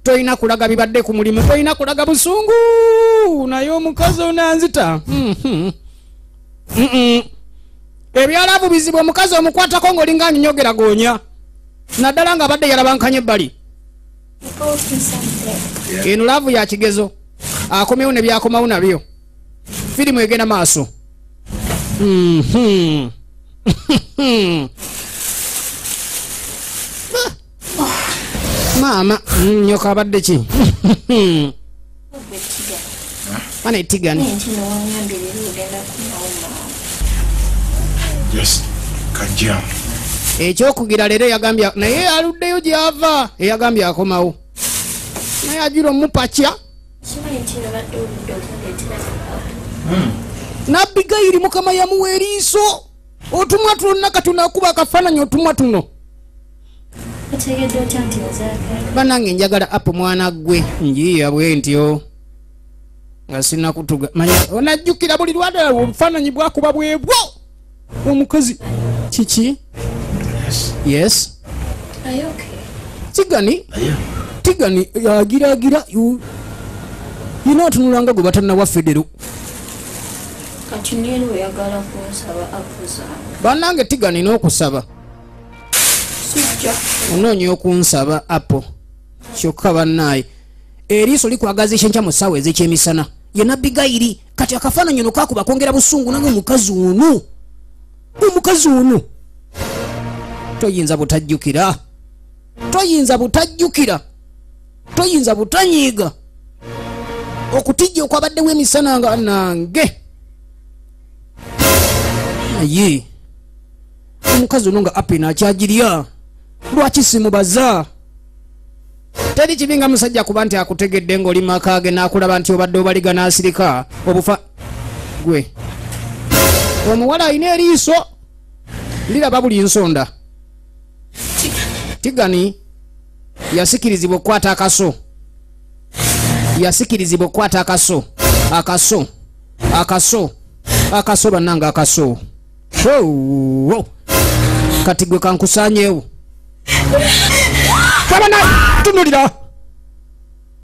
tolina kulaga bibadde ku mulimu tolina kulaga busungu naye omukazi onanzita hmm, hmm. Hmm, ebyalabu bizibu omukazi omukwatako ngaolinga anyinyogera goonya naddala nga abadde yalabankanye ebbali eno laavu ya kigezo akomewo ne byakomawo nabyo firimu egenda maaso maama mm, nyoka abadde ki bana etigani ekyokugira leero eyagambye naye aluddeyo gyava eyagambye akomawo naye ajula omupakya hmm. nabigayiri mukama yamuwa eriiso otumwa tuno nakati nakuba akafaananyi otumwa tuno banange njagala app mwana gwe njiya bwentyo nga sinakutuga manya onajjukira buli lwadala obufaananyi bwakuba bwebwo omukazi kiki yes tigani tigani agiragira yina atunulanga gwe batanawa federo banange tigani n'okusaba onoonya okunsaba apo kyokka bannaaye eriiso likwagaza ekyenkya mu ssaawa ez'ekyemisana ye nabbi gayiri kati akafaananyi ono kakuba kwongera busungu nange omukazi ono omukazi ono toyinza butajjukira toyinza butajjukira toyinza butanyiiga okutijja okwabaddewo emisana nga nange naye omukazi ono nga apena akyagirya lwaki simubaza teri kibi nga musajja kuba nti akutegedde ng'oli maka ge n'akulaba nti obadde obaliga n'asirika obufa gwe omuwala alina eriiso liraba buli nsonda tigani yasikirizibwa okukwata akaso yasikirizibwa okukwata akaso akaso akaso akaso bannanga akaso Hoo. kati gwe kankusanyewo abana tunulira